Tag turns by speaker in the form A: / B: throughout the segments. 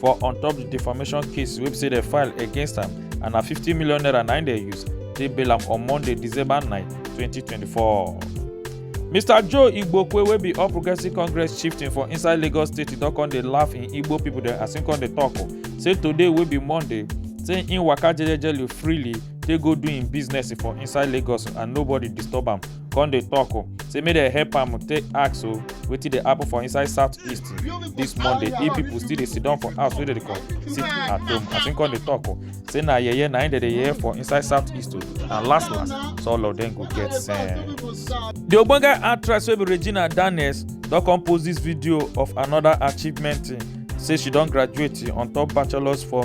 A: for on top di defamation case wey be say dem file against am and na 50 million naira na im dem use take bail am on monday december 9 2024. mr joe igbokwe wey be all progressives congress chieftain for inside lagos state e don come dey laugh im igbo pipo dem as im come dey tok o say today wey be monday say im waka jejely freely take go do im business for inside lagos and nobody disturb am come dey talk o say make dem help am take ask o wetin dey happen for inside south east this monday if people still dey sit down for house wey dey call sit at home as him come dey talk o say na yeye na him dey dey yeye for inside south east o and last last so all of them go get sense. the ogbonge actress wey be regina daniels don come post this video of another achievement say she don graduate on top bachelors for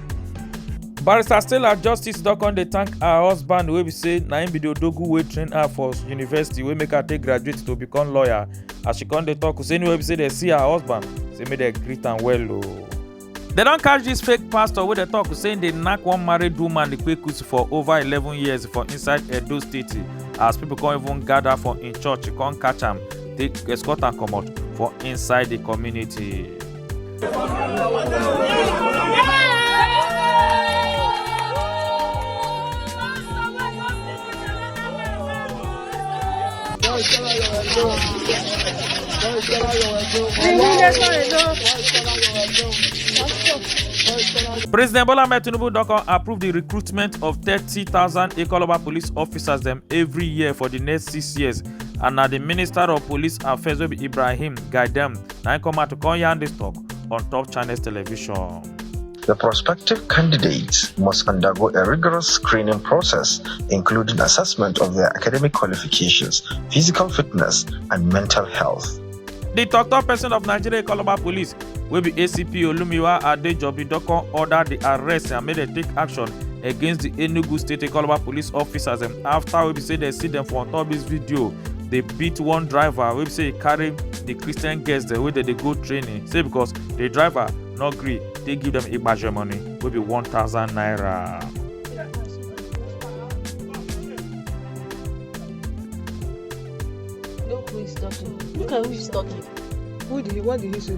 A: barrister stella justice don come dey thank her husband wey be say na him be the odogu wey train her for university wey make her take graduate to become lawyer as she come dey talk say anywhere be say dem see her husband say make dem greet am well o. dem don catch dis fake pastor wey dey talk say im dey knack one married woman ikpekus for over eleven years for inside edo state as pipo come even gather for im church come catch am take escort am comot for inside di community. President Bola Ahmed Tinubu don come approve the recruitment of 30,000 Ikoloba police officers dem every year for the next six years and na the Minister of Police Affairs wey be Ibrahim guide dem na im come out to come yarn dis talk on top channels television. The prospective candidates must undergo a rigorous screening process, including assessment of their academic qualifications, physical fitness, and mental health. The tok-tok person of Nigeria Calabar Police, wey be ACP Olumiwa Adejobi don come order the arrest and make dem take action against the Enugu State Calabar Police officers dem after wey be say dem see dem for on top this video dey beat one driver wey be say e carry the christian girls dem wey dey dey go training say because the driver no gree dey give dem igbaje money wey be one thousand naira. Look who is talking. Look at who is talking. Who did he, what did he say?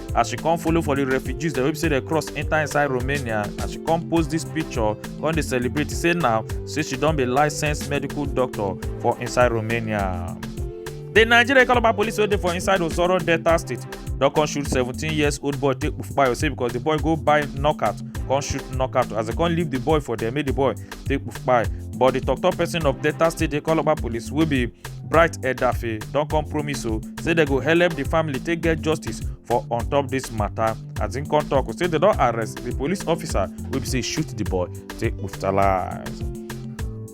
A: as she come follow for the refugees dem wey be say dem cross enter inside romania as she come post this picture come dey celebrate say now say she don be licensed medical doctor for inside romania. The Nigeria Calabar police wey dey for inside Osoro Delta State don come shoot 17 years old boy take kpayo say because the boy go buy knockout come shoot knockout as they come leave the boy for there make the boy take kpayo but the tok tok person of Delta State dey Calabar police wey be bright edafe don come promise o say dem go help di family take get justice for on top dis mata as im come tok say dem don arrest di police officer wey be say shoot di boy take brutalize.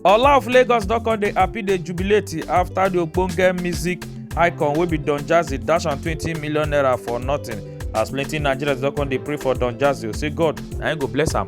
A: ola of lagos don come dey happy dey jubilate afta di ogbonge music icon wey be don jazzy dash am twenty million naira for nothing as plenty nigerians don come dey pray for don jazzy o say god na im go bless am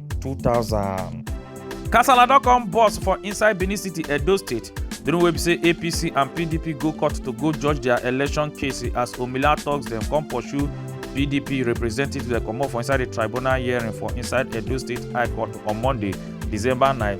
A: 2000. Kasala don come burst for inside Benin City, Edo State during wey be say APC and PDP go court to go judge their election case as Omila talks dem come pursue PDP representatives dem comot for inside the tribunal hearing for inside Edo State High Court on Monday, December 9.